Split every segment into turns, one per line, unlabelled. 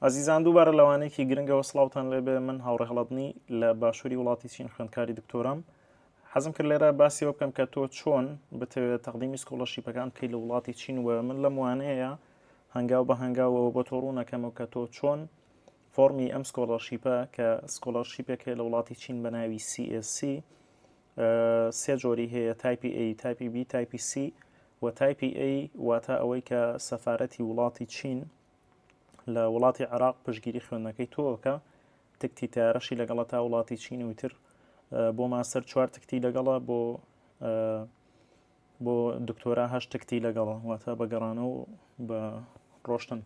ئازیزان دووبارە لەوانەیەکی گرنگەوە سڵاوتان لێبێ من هاوڕێ هەڵەدنی لە باشووری وڵاتی چین خوێندکاری دکتۆرام حەزم کرد لێرە باسیەوە بکەم کە تۆ چۆن بتەوێت تەقدیمی سکۆڵەشیپەکان بکەیت لە وڵاتی چین و من لەم وانەیە هەنگاو بە هەنگاوەوە بۆ تۆ ڕوونەکەمەوە کە تۆ چۆن فۆمی ئەم سکۆڵەرشیپە کە سکۆلەرشیپێک هەیە لە وڵاتی چین بە ناوی CSC سێ جۆری هەیە تایپی A تایپی B تایپی C و تایپی A واتە ئەوەی کە سەفاەتی وڵاتی چین لە وڵاتی عراق پشگیری خوێندنەکەی تۆکە تکتی تارەشی لەگەڵە تا وڵاتی چین و تر بۆ ماستەر چوار تکتی لەگەڵە بۆ بۆ دکتۆرا هەش تکتی لەگەڵە واتە بە گەڕانە و بە ڕۆشتن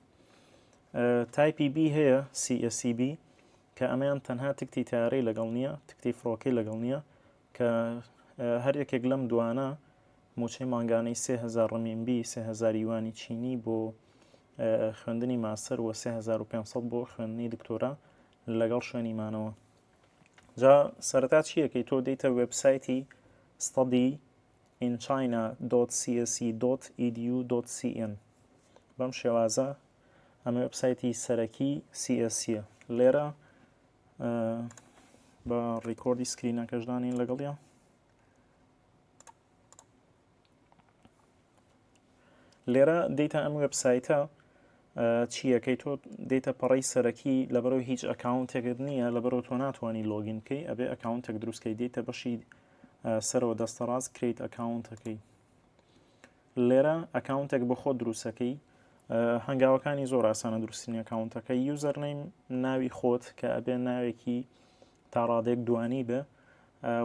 تایپی بی هەیە CSCB کە ئەمەیان تەنها تکتی تارەی لەگەڵ نییە تکتی فڕۆکەی لەگەڵ نییە کە هەر یەکێک لەم دوانە موچەی مانگانەی سێ هزار ڕمینبی سێ هزار یوانی چینی بۆ خوێندنی ماستەر و 3500 بۆ خوێندنی دکتۆرا لەگەڵ شوێنی مانەوە جا سەرتا چیەکەی تۆ دەیتە وبسایتی ستادی in china.cse.edu.cn بەم شێوازە ئەمە وبسایتی سەرەکی CSە لێرە بە ڕیکۆردی سکرینەکەشدا نین لەگەڵیا لێرە دیتا ئەم وبسایتە چیەکەی تۆ دیتە پەڕی سەرەکی لەبەرەوە هیچ ئەکاونتێکت نییە لەبەرەوە تۆ ناتوانانی لۆگین بکەی ئەبێ ئەکاونتێک دروستکەی دیتە بەشی سەرەوە دەستەڕاست کریت ئەکاونتەکەی لێرە ئەکاونتێک بۆ خۆ دروستەکەی هەنگاوەکانی زۆر ئاسانە دروستنی ئەکاونتەکە یوزەر نیم ناوی خۆت کە ئەبێ ناوێکی تا ڕادێک دوانی بێ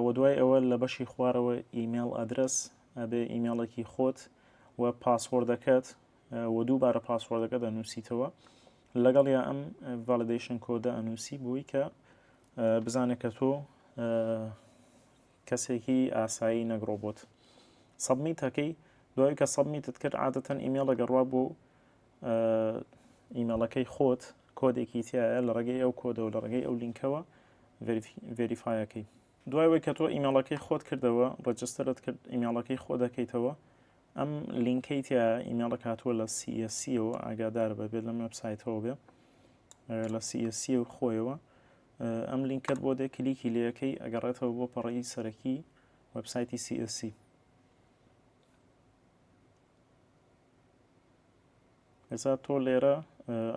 و دوای ئەوە لە بەشی خوارەوە ئیممەل ئەدرس ئەبێ ئیممەڵێکی خۆت و پاسوەردەکەت و دووبارە پاسوەردەکە دەنووسیتەوە لەگەڵ یا ئەم ڤالدیشن کۆدە ئەنووسی بووی کە بزانێت کە تۆ کەسێکی ئاسایی نەک ڕۆبۆت. سەبمیت هەکەی دوای کە سەبمیتت کرد عادەتەن ئیمێڵە گەڕوا بۆ ئیمێڵەکەی خۆت کۆدێکی تایە لە ڕێگەی ئەو کۆدەوە لە ڕێگەی ئەو لینکەوە ڤریفایەکەی دوای وەی کە تۆ ئیمێڵەکەی خۆت کردەوە ڕجسترت کرد ئیمێڵەکەی خۆ دەکەیتەوە ئەم لینکەی تیا ئیمێڵە کاتووە لە سیسیەوە ئاگادار بە بێت لەم وبسایتەوە بێ لە سیسی و خۆیەوە ئەم لینکەت بۆ دێ کلیکی لەکەی ئەگەڕێتەوە بۆ پەڕەی سەرەکی وەبسایتی CSC ئێستا تۆ لێرە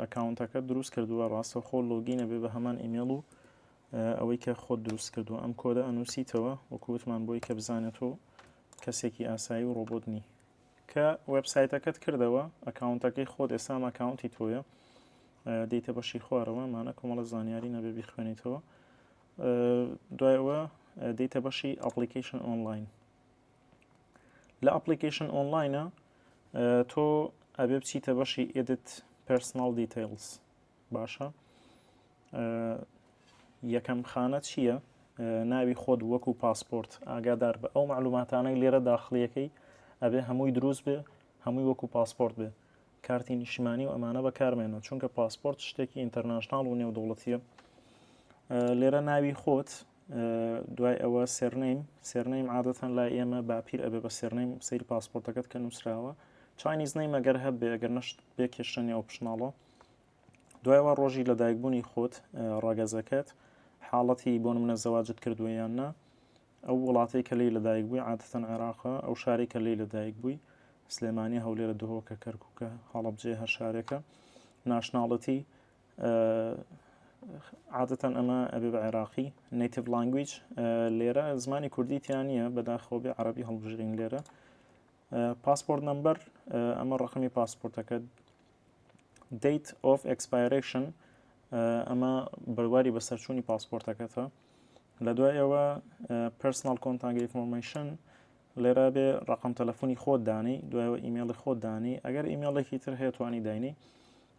ئەکاونتەکە دروست کردووە ڕاستە خۆ لۆگینە بێ بە هەمان ئیمێڵ و ئەوەی کە خۆت دروست کردو ئەم کۆدە ئەنووسیتەوە وەکووتمان بۆی کە بزانێت و کەسێکی ئاسایی و ڕۆبۆت نی کە وبسایتەکەت کردەوە ئەکاونتەکەی خۆت ئێستا ئەکاونتی تۆیە دێیتە بەشی خوارەوە ئەمانە کۆمەڵە زانیارینە بێ بیخوێنیتەوە دوایەوە دێیتە بەشی ئەپلیکیشن ئۆنلاین لە ئەپلیکیشن ئۆنلاینە تۆ ئەبێ بچیتە بەشی ئێدت پرسناڵ دیتیلز باشە یەکەم خانە چییە ناوی خۆت وەکو پاسپۆرت ئاگادار بە ئەو معلوماتانەی لێرە داخلیەکەی ئەبێ هەمووی دروست بێ هەمووی وەکو پاسپۆرت بێ کارتی نیشتیمانی و ئەمانە بەکارمێنەوە چونکە پاسپۆرت شتێکی ئینتەرناشناڵ و نێودوڵەتیە لێرە ناوی خۆت دوای ئەوە سێرنەیم سێرنەیم عادەتەن لای ئێمە باپیر ئەبێ بە سێرنەیم سیر پاسپۆرتەکەت کە نووسراوە چاینیز نەی مەگەر هەبێ گەر نەشت بێ کێشە نێو پشناڵە دوایەوە ڕۆژی لە دایکبوونی خۆت ڕاگەزەکەت حاڵەتی بۆن منە زەواجت کردووە یان نا ئەو وڵاتەی کە لێی لەدایک بووی عادەتەن عێراقە، ئەو شارەی کە لێی لەدایک بووی سلێمانیە، هەولێرە، دهۆکە، کەرکووکە، هەڵەبجەیە، هەر شارێکە. ناشناڵەتی عادەتەن ئەمە ئەبێ بە عێراقی نەیتیڤ لانگویج لێرە زمانی کوردی تیان نییە بەداخەوە بێ عربی هەڵبژرین لێرە پاسپۆرت نمبەر ئەمە ڕقمی پاسپۆرتەکە دیت ئۆف ئەکسپایرشن ئەمە بەرواری بەسەرچوونی پاسپۆرتەکەتە لە دوای ئەوە پرسناڵ کۆنتانگە ئیفۆرمەیشن لێرا بێ ڕقم تەلەفۆنی خۆت دانی دوایەوە ئیمێڵی خۆت دانی ئەگەر ئیمێڵێکی تر هەیە توانی داینی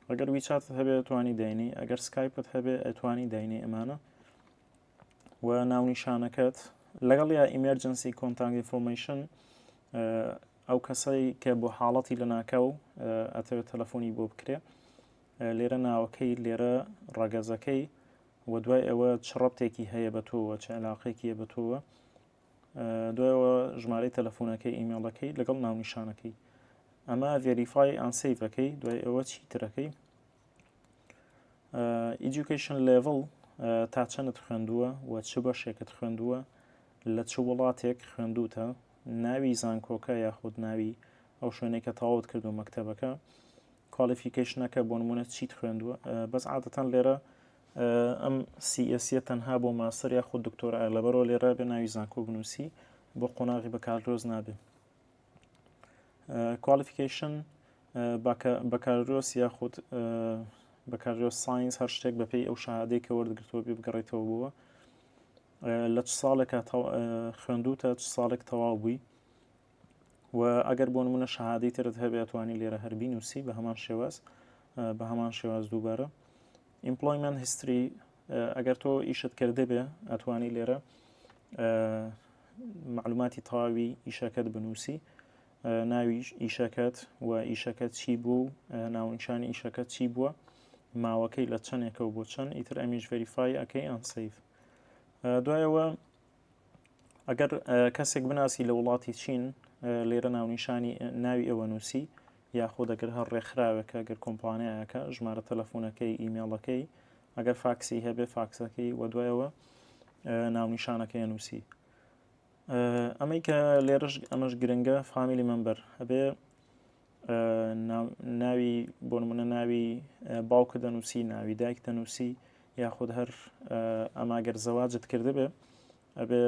ئەگەر ویچات هەبێ توانی داینی ئەگەر سکایپت هەبێ ئەتوانی داینی ئەمانە و ناونیشانەکەت لەگەڵ یا ئیمەرجنسی کۆنتانگ ئیفۆرمەیشن ئەو کەسەی کە بۆ حاڵەتی لە ناکاو ئەتەوێت تەلەفۆنی بۆ بکرێ لێرە ناوەکەی لێرە ڕەگەزەکەی وە دوای ئەوە چ ڕەبتێکی هەیە بە تۆوە چ علاقێکیە بە تۆوە دوایەوە ژمارەی تەلەفۆنەکەی ئیمێڵەکەی لەگەڵ ناونیشانەکەی ئەمە ڤێریفای ئەنسیڤەکەی دوای ئەوە چی ترەکەی ئیدوکیشن لێڤڵ تا چەندت خوێندووە و چ بەشێکت خوێندووە لە چ وڵاتێک خوێندوتە ناوی زانکۆکە یاخود ناوی ئەو شوێنێکە تەواوت کردو مەکتتەبەکە کوالیفیکەیشنەکە بۆنمونە چیت خوێندووە بەس عادەتەن لێرە ئەم سیئسیە تەنها بۆ ماستەر یاخود دکتۆر ئالەبەرەوە لێرە بێ ناوی زانکۆ بنووسی بۆ قۆناغی بەکارلۆز نابێت کوالیفیکەیشن بەکارۆس یاخود بەکارۆس ساینس هەر شتێک بەپی ئەو شادەی کە وەرگرتووە بێ بگەڕێتەوە بووە لە چ ساڵێکە خوێندوتە چ ساڵێک تەواو بووی و ئەگەر بۆ نمونە شەهادەی ترت هەبێت توانی لێرە هەر بینوسی بە هەمان شێواز بە هەمان شێواز دووبارە ئیمپلۆیمنت هیستری ئەگەر تۆ ئیشت کردێ بێ ئەتوانی لێرە معلوماتی تەواوی ئیشەکەت بنووسی ناوی ئیشەکەت و ئیشەکە چی بوو ناونشانی ئیشەکە چی بووە ماوەکەی لە چەندێکە و بۆ چەند ئیتر ئەمیش ڤریفای ئەەکەی ئەنسیف دوایەوە ئەگەر کەسێک بناسی لە وڵاتی چین لێرە ناونیشانی ناوی ئێوە نووسی یاخۆ دەگەر هەر ڕێکخراوێکە گەر کۆمپانیایەکە ژمارە تەلەفۆنەکەی ئیمێڵەکەی ئەگەر فاکسی هەبێ فاکسەکەی وە دوایەوە ناونیشانەکەی نووسی ئەمەی کە لێرەش ئەمەش گرنگە فامیلی مەمبەر هەبێ ناوی بۆ نمونە ناوی باوکە دەنووسی ناوی دایک دەنووسی یاخود هەر ئەماگەر زەواجت کردبێ ئەبێ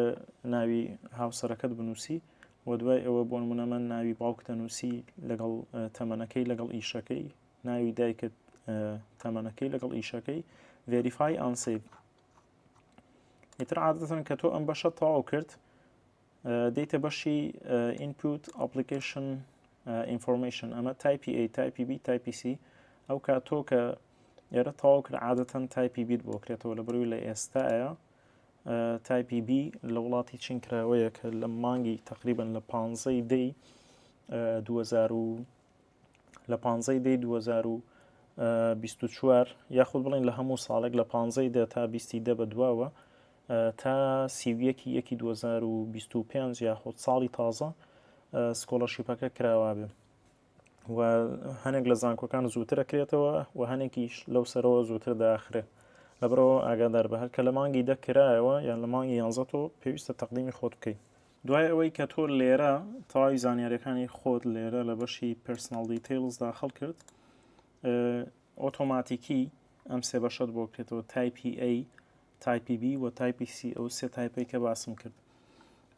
ناوی هاوسەرەکەت بنووسی و دوای ئەوە بۆ نمونە من ناوی باوک دەنووسی لەگەڵ تەمەنەکەی لەگەڵ ئیشەکەی ناوی دایکت تەمەنەکەی لەگەڵ ئیشەکەی ڤێریفای ئانسیب ئیتر عادەتەن کە تۆ ئەم بەشە تەواو کرد دێیتە بەشی ئینپوت ئەپلیکیشن ئینفۆرمەیشن ئەمە تایپی ئەی تایپی بی تایپی سی ئەو کا تۆ کە ئێرە تەواو کرد عادەتەن تایپی بیت بۆ کرێتەوە لە بەروی لە ئێستاە تایپی بی لە وڵاتی چین کراوەیە کە لە مانگی تقریبن لە پانزەی دەی 2000 لە پانزەی دەی 2024 یاخود بڵین لە هەموو ساڵێک لە پانزەی دە تا بیستی دە بە دواوە تا سیویەکی یەکی 2025 یاخود ساڵی تازە سکۆڵەشیپەکە کراوا بێ و هەنێک لە زانکۆکان زووترە کرێتەوە و هەنێکیش لەو سەرەوە زووتر داخرێت لەبرەوە ئاگادار بە هەرکە لە مانگی دەکرایەوە یان لە مانگی یانزە تۆ پێویستە تەقدیمی خۆت بکەیت دوای ئەوەی کە تۆ لێرە تەواوی زانیاریەکانی خۆت لێرە لە بەشی پرسناڵ دیتیلز داخل کرد ئۆتۆماتیکی ئەم سێ بەشت بۆ کرێتەوە تایپی A تایپی B و تایپی C ئەو سێ تایپی کە باسم کرد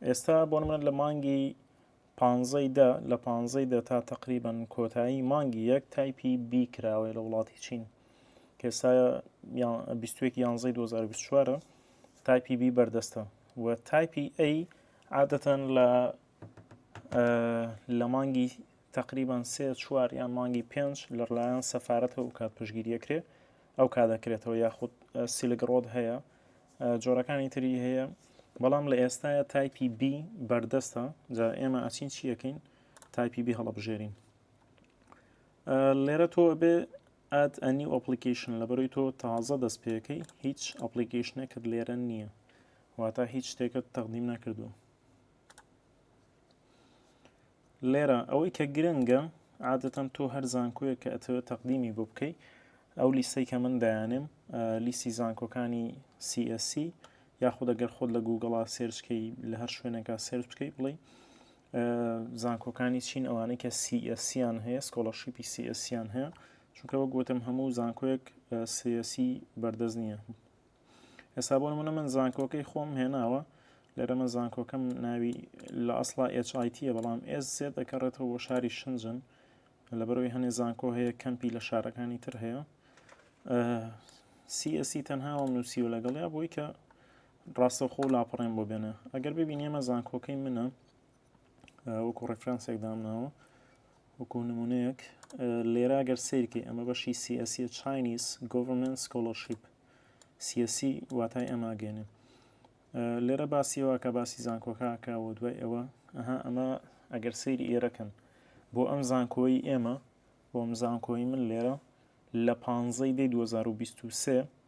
ئێستا بۆ منە لە مانگی پانزەی دە لە پانزەی دە تا تقریبان کۆتایی مانگی یەک تایپی B کراوەیە لە وڵاتی چین کەسا 21 یانزەی 2024 تایپی B بەردەستە و تایپی ئەی عادەتەن لە لە مانگی تقریبان سێ چوار یان مانگی پێنج لەلایەن سەفاەتەوە کات پشگیریەکرێ ئەو کا دەکرێتەوە یاخود سیلگڕۆت هەیە جۆرەکانی تری هەیە بەڵام لە ئێستاە تایپی بی بەردەستە جا ئێمە ئەچین چیەکەین تایپی بی هەڵبژێرین لێرە تۆ بێ Add a new application لەبەرەوەی تۆ تازە دەست پێەکەی هیچ ئەپلیکیشنێکت لێرە نییە واتە هیچ شتێکت تەقدیم نەکردو لێرە ئەوەی کە گرنگە عادەتەن تۆ هەر زانکۆیە کە ئەتەوە تەقدیمی بۆ بکەیت ئەو لیستەی کە من دایانم لیستی زانکۆکانی CSC یاخود ئەگەر خۆت لە گوگڵا سێرچکەی لە هەر شوێنێکا سێرچ بکەیت بڵێ زانکۆکانی چین ئەوانەی کە سیئسیان هەیە سکۆڵەشیپی سیئسیان هەیە چونکە وەک گوتم هەموو زانکۆیەک سیەسی بەردەست نییە ئێستا بۆ منە من زانکۆکەی خۆم هێناوە لێرە من زانکۆکەم ناوی لە ئەسڵا HITە بەڵام ئێز سێ دەکەڕێتەوە بۆ شاری شنجن لەبەرەوەی هەنێ زانکۆ هەیە کەمپی لە شارەکانی تر هەیە سیئسی تەنهاوەم نووسیوە لەگەڵیا بۆی کە ڕاستەوخۆ لاپەڕەیم بۆ بێنە ئەگەر ببینی ئەمە زانکۆکەی منە وەکو ڕفرانسێک دامناوە وەکو نمونەیەک لێرا گەر سیرکەی ئەمە بەشی سیاسی چینیس گۆڤمنت سکۆلەرشیپ سیاسی واتای ئەماگەێنێ لێرە باسیەوە کە باسی زانکۆکەکە و دوای ئەوە ئەها ئەمە ئەگەر سەیری ئێرەکەن بۆ ئەم زانکۆی ئێمە بۆ ئەم زانکۆی من لێرە لە پانزەی دی 2023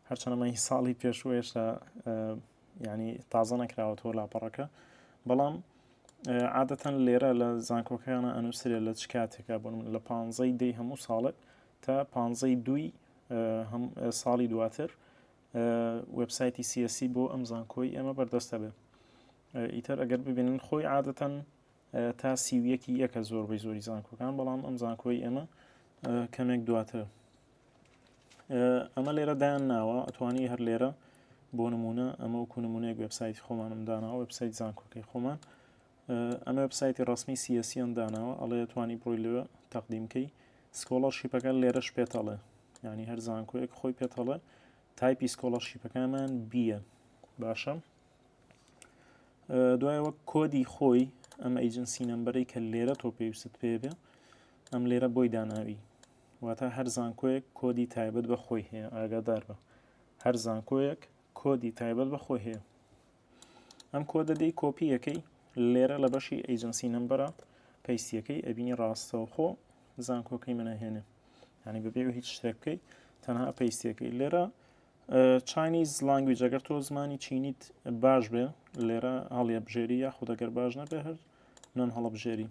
هەرچەنەمەی ساڵی پێشوو هێشتا ینی تازە نەکراوەتەوە لاپەڕەکە بەڵام عادەتەن لێرە لە زانکۆکەیانە ئەنووسرێ لە چ کاتێکا بن لە پانزەی دەی هەموو ساڵێک تا پانزەی دوی ساڵی دواتر وبسایتی سیسی بۆ ئەم زانکۆی ئێمە بەردەستە بێ ئیتر ئەگەر ببینن خۆی عادەتەن تا سی و یەک ی یەکە زۆربەی زۆری زانکۆکان بەڵام ئەم زانکۆی ئێمە کەمێک دواتر ئەمە لێرە دایان ناوە ئەتوانی هەر لێرە بۆ نمونە ئەمە وکو نمونەیەک وبسایتی خۆمانم داناوە وبسایت زانکۆکەی خۆمان ئەمە وبسایتی ڕسمی سیسیان داناوە ئەڵێ توانی بڕۆی لێ تەقدیمکەی سکۆڵەر شیپەکە لێرە شپێتەڵێ ینی هەر زانکۆیەک خۆی پێتەڵێ تایپی سکۆڵەر شیپەکانمان بیە باشە دوای وەک کۆدی خۆی ئەم ئەیجنسی نمبەری کە لێرە تۆ پێویست پێ بێ ئەم لێرە بۆی داناوی واتە هەر زانکۆیەک کۆدی تایبەت بە خۆی هەیە ئاگادار بە هەر زانکۆیەک کۆدی تایبەت بە خۆی هەیە ئەم کۆدە دەی کۆپیەکەی لێرە لە بەشی ئەیجنسی نمبەرە پەیسیەکەی ئەبینی ڕاستەوخۆ زانکۆکەی منەهێنێ ینی بەبێ هیچ شتێک بکەیت تەنها پەیسیەکەی لێرە چاینیز لانگویج ئەگەر تۆ زمانی چینیت باش بێ لێرە هەڵیە بژێری یا خودەگەر باش نەبێ هەر نان هەڵە بژێری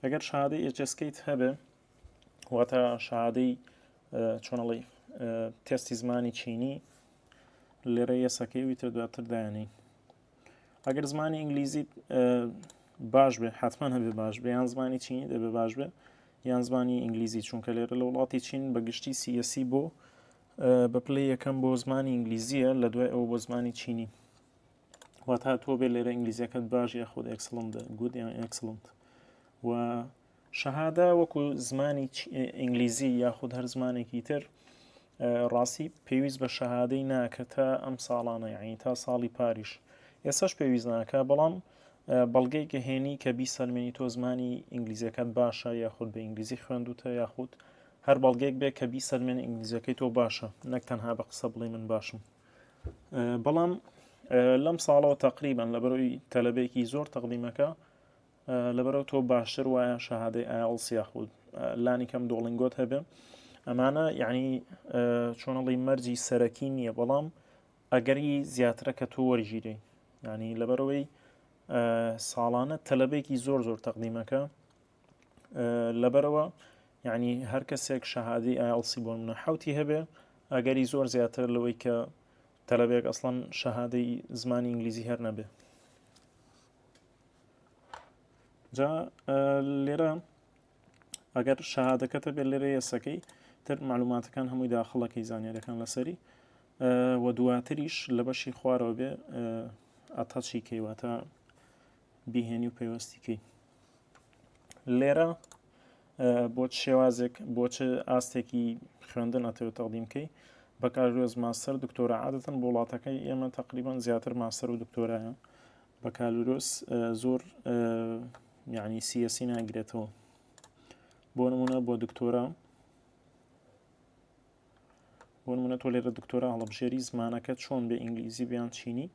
ئەگەر شادەی ئێچسکیت هەبێ واتە شادەی چۆنەڵی تێستی زمانی چینی لێرە یەسەکەی ویتە دواتر دایانی ئەگەر زمانی ئینگلیزی باش بێ حتمما هەبێ باش بێ یان زمانی چینی دەبێ باش بێ یان زمانی ئینگلیزی چونکە لێرە لە وڵاتی چین بە گشتی سیەسی بۆ بە پلەی یەکەم بۆ زمانی ئینگلیزیە لە دوای ئەوە بۆ زمانی چینی واتا تۆ بێ لێرە ئینگلیزیەکەت باش یاخود ئەکسڵند گود یان ئەکسڵند و شەهادا وەکو زمانی ئینگلیزی یاخود هەر زمانێکی تر ڕاستی پێویست بە شەهادەی ناکە تا ئەم ساڵانە یعنی تا ساڵی پاریش ئێسش پێویست ناکە بەڵام بەڵگەی کە هێنی کە بیسەلمێنی تۆ زمانی ئینگلیزیەکەت باشە یاخود بە ئینگلیزی خوێندوتە یاخود هەر بەڵگەیەک بێ کە بیسەلمێنێ ئینگلیزیەکەی تۆ باشە نەک تەنها بە قسە بڵێ من باشم بەڵام لەم ساڵەوە تقریبان لە بەرەوەی تەلەبێکی زۆر تەقدیمەکە لەبەرەوە تۆ باشتر وایە شەهادەی ئایڵس یاخود لانی کەم دۆڵنگۆت هەبێ ئەمانە یعنی چۆنەڵی مەرجی سەرەکی نییە بەڵام ئەگەری زیاترە کە تۆ وەرگیری ینی لەبەرەوەی ساڵانە تەلەبێکی زۆر زۆر تەقدیمەکە لەبەرەوە یعنی هەر کەسێک شەهادی ئایڵسی بۆن منە حوتی هەبێ ئەگەری زۆر زیاتر لەوەی کە تەلەبێک ئەسڵەن شەهادەی زمانی ئینگلیزی هەر نەبێ جا لێرە ئەگەر شەهادەکەتە بێ لێرە یەسەکەی تر معلوماتەکان هەمووی داخڵەکەی زانانیارەکان لەسەری و دواتریش لە بەشی خوارەوە بێ ئەتەچی کەیواتە بیهێنی و پەیوەستیکەی لێرە بۆ شێوازێک بۆ چ ئاستێکی خوێندن ئەتەوێت تەقدیم بکەی بەکارێز ماستەر دکتۆرە عادەتەن بۆ وڵاتەکەی ئێمە تقریبان زیاتر ماستەر و دکتۆرایە بەکالورۆس زۆر یعنی سیەسی ناگرێتەوە بۆ نمونە بۆ دکتۆرە بۆنمونە تۆ لێرە دکتۆرا هەڵبژێری زمانەکە چۆن بێ ئینگلیزی بیان چینی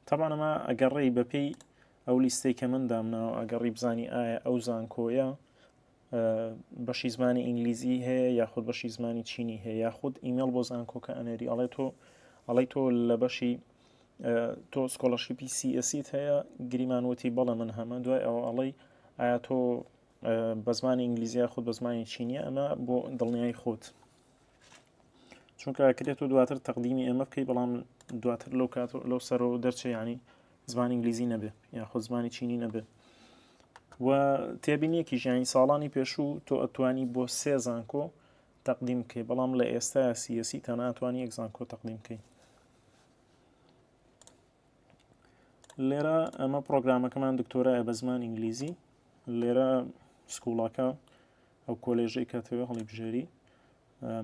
تابانەمە ئەگەڕێی بەپی ئەو لیستەی کە من دامناوە ئەگەڕی بزانی ئایا ئەو زانکۆیە بەشی زمانی ئینگلیزی هەیە یاخود بەشی زمانی چینی هەیە یاخود ئیمەڵ بۆ زانکۆکە ئەنێری ئەڵێ تۆ ئەڵی تۆ لە بەشی تۆ سکۆلەشیپی سیئسیت هەیە گریمانوەتی بەڵە من هەمە دوای ئەو ئەڵی ئایا تۆ بە زمانی ئینگلیزی یاخود بە زمانی چینی ئەمە بۆ دڵنیایی خۆت چونکە ئەکرێت و دواتر تەقدیمی ئێمە بکەی بەڵام دواتر لەو کات لەو سەرەوە دەرچێ ینی زمانی ئینگلیزی نەبێ یاخود زمانی چینی نەبێ و تێبینیەکی ژیانی ساڵانی پێشوو تۆ ئەتوانی بۆ سێ زانکۆ تەقدیم بکەی بەڵام لە ئێستا سیەسی تەناتوانی یەک زانکۆ تەقدیم بکەیت لێرە ئەمە پرۆگرامەکەمان دکتۆرایە بە زمان ئینگلیزی لێرە سکوڵاکە ئەو کۆلێژەی کاتەوە هەڵی بژێری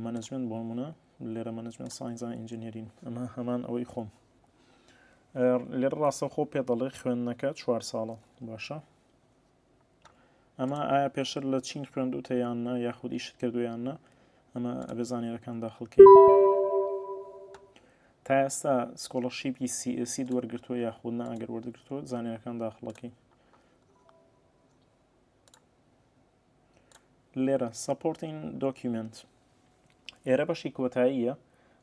مەنجمنت بۆ منە لێرە مەنجمنت ساینزان ئینجینێرین ئەمە هەمان ئەوەی خۆم لێرە ڕاستەخۆ پێ دەڵێ خوێندنەکە چوار ساڵە باشە ئەمە ئایا پێشتر لە چین خوێندوتە یان نە یاخود ئیشت کردویان نە ئەمە ئەبێ زانیەکان داخڵکەی تا ئێستا سکۆڵەرشیپی سیئسی دوەرگرتووە یاخود نە ئەگەر وەرگرتووە زانیەکان داخڵەکەی لێرە سپۆرتین دۆکیومنت ئێرە بەشی کۆتاییە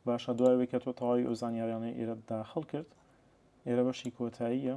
باشە دوای کە تۆ تەواوی ئەو زانیاریانەی ئێرە داخڵ کرد ئێرە بەشی کۆتاییە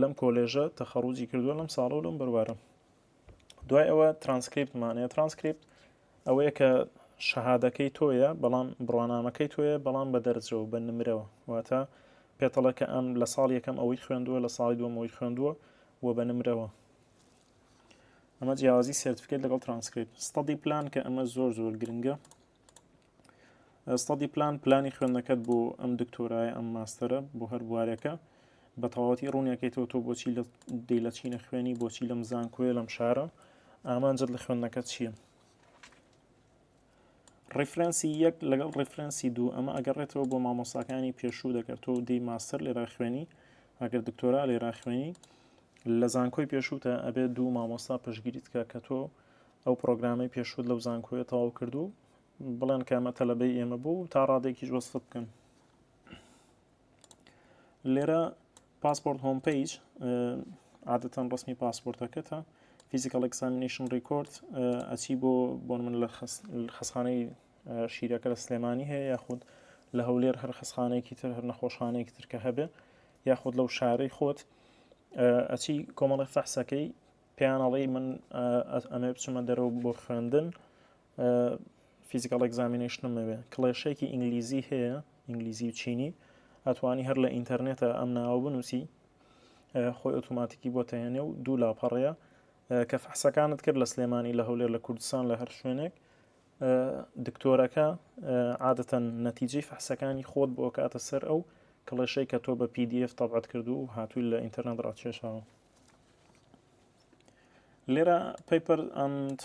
لەم کۆلێژە تەخەڕوجی کردووە لەم ساڵە و لەم بەروارە دوای ئەوە ترانسکریپتمانەیە ترانسکریپت ئەوەیە کە شەهادەکەی تۆیە بەڵام بڕوانامەکەی تۆیە بەڵام بە دەرجەوە بە نمرەوە واتە پێتەڵەکە ئەم لە ساڵ یەکەم ئەوەی خوێندووە لە ساڵی دووەمەوەی خوێندووە و بە نمرەوە ئەمە جیاوازی سرتفکت لەگەڵ ترانسکریپت ستادی پلان کە ئەمە زۆر زۆر گرنگە ستادی پلان پلانی خوێندنەکەت بۆ ئەم دکتۆرای ئەم ماستەرە بۆ هەر بوارێکە بە تەواوەتی ڕوونیەکەیتەوە تۆ بۆچی لە دی لە چینە خوێنی بۆچی لەم زانکۆیە لەم شارە ئامانجت لە خوێندنەکەت چییە ڕیفرەنسی یەک لەگەڵ ڕیفرەنسی دوو ئەمە ئەگەڕێتەوە بۆ مامۆساکانی پێشوو دەکرد تۆ دی ماستەر لێرا خوێنی ئەگەر دکتۆرا لێرا خوێنی لە زانکۆی پێشووتە ئەبێت دوو مامۆستا پشگیریت کە کە تۆ ئەو پرۆگرامەی پێشوت لەو زانکۆیە تەواو کرد و بڵێن کامە تەلەبەی ئێمە بوو تا ڕادێکیش وەسفت بکەن لێرە پاسپۆرت هۆم پیج عادەتەن ڕسمی پاسپۆرتەکەتە فیزیکال ئەکسامینیشن ڕیکۆرد ئەچی بۆ بۆن من لە خەسخانەی شیرەکە لە سلێمانی هەیە یاخود لە هەولێر هەر خەسخانێکی تر هەر نەخۆشخانەیەکی ترکە هەبێ یاخود لەو شارەی خۆت ئەچی کۆمەڵی فەحسەکەی پێیان ئەڵێی من ئەمێ بچمە دەرەوە بۆ خوێندن فیزیکال ئەگزامینشنم نەوێ کڵێشێکی ئینگلیزی هەیە ئینگلیزی و چینی ئەتوانی هەر لە ئینتەرنێتە ئەم ناوە بنووسی خۆی ئۆتوماتیکی بۆ تەهێنێ و دوو لاپەڕەیە کە فەحسەکانت کرد لە سلێمانی لە هەولێر لە کوردستان لە هەر شوێنێک دکتۆرەکە عادەتەن نەتیجەی فەحسەکانی خۆت بۆ کاتە سەر ئەو کڵێشەی کە تۆ بە PDF تەبعەت کردو و هاتووی لە ئینتەرنێت ڕاکێشاوە لێرە پەیپەر ئەند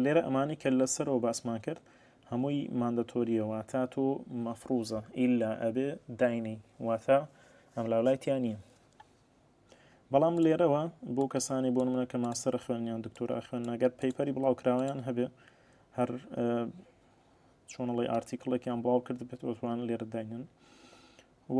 لێرە ئەمانی کە لەسەرەوە باسمان کرد هەمووی ماندەتۆریەوە تا تۆ مەفروزە ئیلا ئەبێ داینی واتە ئەم لاولایتیان نییە بەڵام لێرەوە بۆ کەسانی بۆ منە کە ماسەرە خوێنیان دکتۆرا خوێن نەگەر پەیپەری بڵاوکراوەیان هەبێ هەر چۆنەڵی ئارتیکڵێکیان بڵاو کرد بێت ئۆتوان لێرە داینن و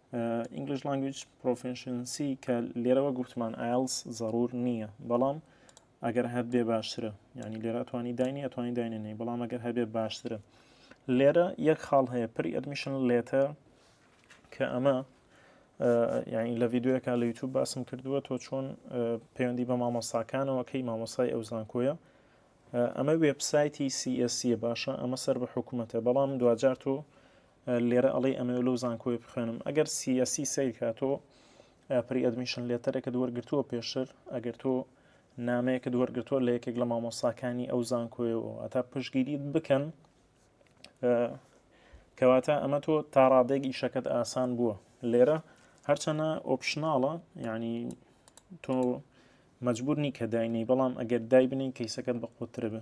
English Language Proficiency کە لێرەوە گوتمان ئایلس زەڕور نییە بەڵام ئەگەر هەبێ باشترە ینی لێرە توانی داینی ئەتوانی داینێنی بەڵام ئەگەر هەبێ باشترە لێرە یەک خاڵ هەیە پری ئەدمیشن لێتە کە ئەمە یعنی لە یددیوەکە لە یوتوب باسم کردووە تۆ چۆن پەیوەندی بە مامۆستاکانەوە کەی مامۆستای ئەو زانکۆیە ئەمە وێبسایتی سیسی باشە ئەمە سەر بە حکوومەتە بەڵام دوجار تۆ لێرە ئەڵێ ئەمەوێ لەو زانکۆیە بخوێنم ئەگەر سیاسی سەیرکە تۆ پری ئەدمیشن لێتەرێکە دووەرگرتووە پێشتر ئەگەر تۆ نامەیەکە دووەرگرتووە لە یەکێک لە مامۆساکانی ئەو زانکۆیەوە ئەتا پشگیریت بکەن کەواتە ئەمە تۆ تاڕادێک ئیشەکەت ئاسان بووە لێرە هەرچەنە ئۆپشنناڵە یعنی تۆ مجبورنی کە داینەی بەڵام ئەگەر دای بنین کەیسەکەت بە قوترە بێ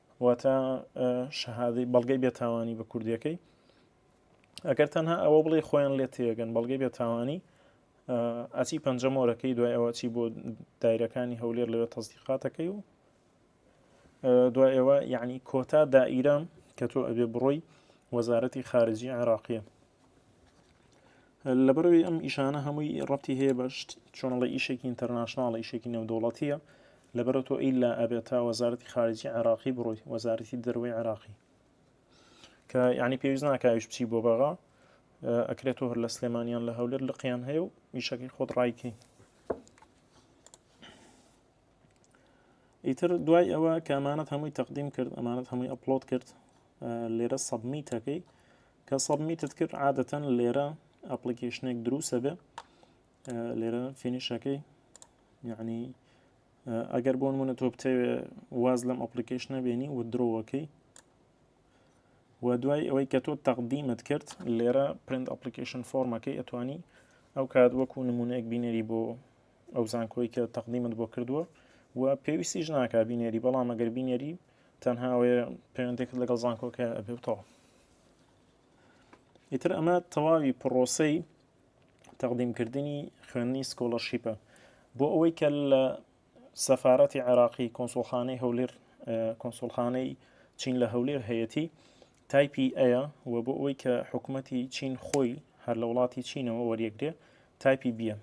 واتە شەهادەی بەڵگەی بێتاوانی بە کوردیەکەی ئەگەر تەنها ئەوە بڵێ خۆیان لێ تێگەن بەڵگەی بێتاوانی ئەچی پەنجەمۆرەکەی دوای ئەوە چی بۆ دایرەکانی هەولێر لەوێ تەزدیقاتەکەی و دوای ئەوە یعنی کۆتا دائیرە کە تۆ ئەبێ بڕۆی وەزارەتی خارجی عێراقیە لەبەرەوەی ئەم ئیشانە هەمووی ڕەتی هەیە بە چۆنڵی ئیشێکی ئینتەرناشنناڵی ئیشێکی نێودوڵەتیە لەبەرە تۆ ئیلا ئەبێت تا وەزارەتی خارجی عراقی بڕۆی وەزارەتی دەروی عراقی کە ینی پێویست ناکاویش بچی بۆ بەغا ئەکرێت تۆ هەر لە سلێمانیان لە هەولێر لقیان هەیە و ئیشەکەی خۆت ڕایکەی ئیتر دوای ئەوە کامانەت هەمووی تەقدیم کرد ئەمانەت هەمووی ئەپلۆت کرد لێرە سەبمیتەکەی کە سەبمیتت کرد عادەتەن لێرە ئەپلیکیشنێک دروسە بێ لێرە فینیشەکەی یعنی ئەگەر بۆن منە تۆ بتەوێ واز لەم ئەپلیکیشنە بێنی و درۆوەکەی و دوای ئەوەی کە تۆ تەقدیمت کرد لێرە پرند ئەپلیکیشن فۆرمەکەی ئەتوانی ئەو کات وەکو نمونەیەک بینێری بۆ ئەو زانکۆی کە تەقدیمت بۆ کردووە و پێویستیش ناکە بینێری بەڵام ئەگەر بینێری تەنها ئەوێ پەیوەندێکت لەگەڵ زانکۆکە ئەبێتەوە ئیتر ئەمە تەواوی پڕۆسەی تەقدیمکردنی خوێندنی سکۆلەرشیپە بۆ ئەوەی کە لە سەفاەتی عێراقی کۆنسۆلخانەی هەولێر کۆنسۆلخانەی چین لە هەولێر هەیەی تایپی ئەیە و بۆ ئەوەی کە حکومەتی چین خۆی هەر لە وڵاتی چینەوە وەریەگرێ تایپی بیە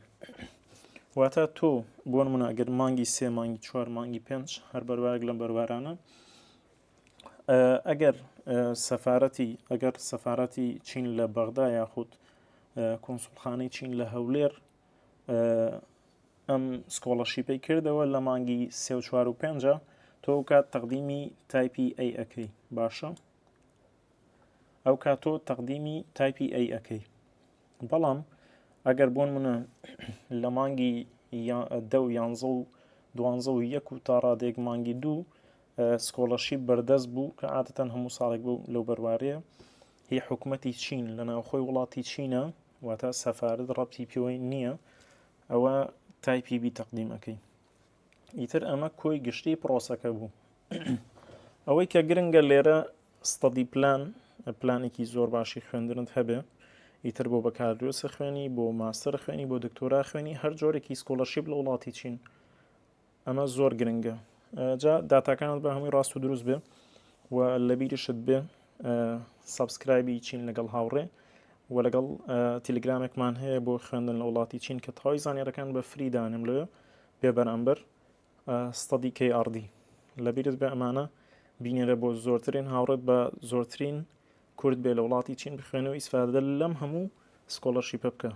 واتە تۆ بۆن مناگەر مانگی سێ مانگی چوار مانگی پێنج هەر بەروارێک لەم بەروارانە ئەگەر سەفاەتی ئەگەر سەفاەتی چین لە بەغدا یاخود کۆنسولخانەی چین لە هەولێر ئەم سکۆڵەشیپەی کردەوە لە مانگی سێ و چوار و پێنجە تۆ کات تەقدیمی تایپی ئەی ئەەکەی باشە ئەو کا تۆ تەقدیمی تایپی ئەی ئەەکەی بەڵام ئەگەر بۆن منە لە مانگی دە و یانزە و دوانزە و یەک و تا ڕادێک مانگی دوو سکۆڵەشی بەردەست بوو کە عادەتەن هەموو ساڵێک بوو لەو بەروارەیە هی حکوومەتی چین لە ناوخۆی وڵاتی چینە واتا سەفارەت ڕەبتی پێوەی نییە ئەوە تای پی بی تەقدیم ئەەکەین ئیتر ئەمە کۆی گشتی پرۆسەکە بوو ئەوەی کە گرنگە لێرە ستەدی پلان پلانێکی زۆر باشی خوێندنت هەبێ ئیتر بۆ بەکاردۆسە خوێنی بۆ ماستەر خوێنی بۆ دکتۆرا خوێنی هەر جۆرێکی سکۆلەرشیب لە وڵاتی چین ئەمە زۆر گرنگە جا داتاکانت بە هەمووی ڕاست و دروست بێ و لە بیریشت بێ سابسکرایبی چین لەگەڵ هاوڕێ و لەگەڵ تیلگرامێکمان هەیە بۆ خوێندن لە وڵاتی چین کە تەواوی زانانیێرەکان بە فریدانم لێ بێ بەرامبەر ستادی کەی ئاردی لە بیرت بە ئەمانە بینێرە بۆ زۆرترین هاوڕێت بە زۆرترین کورد بێ لە وڵاتی چین بخوێنەوە ئیسفادە لەم هەموو سکۆڵەرشیپە بکە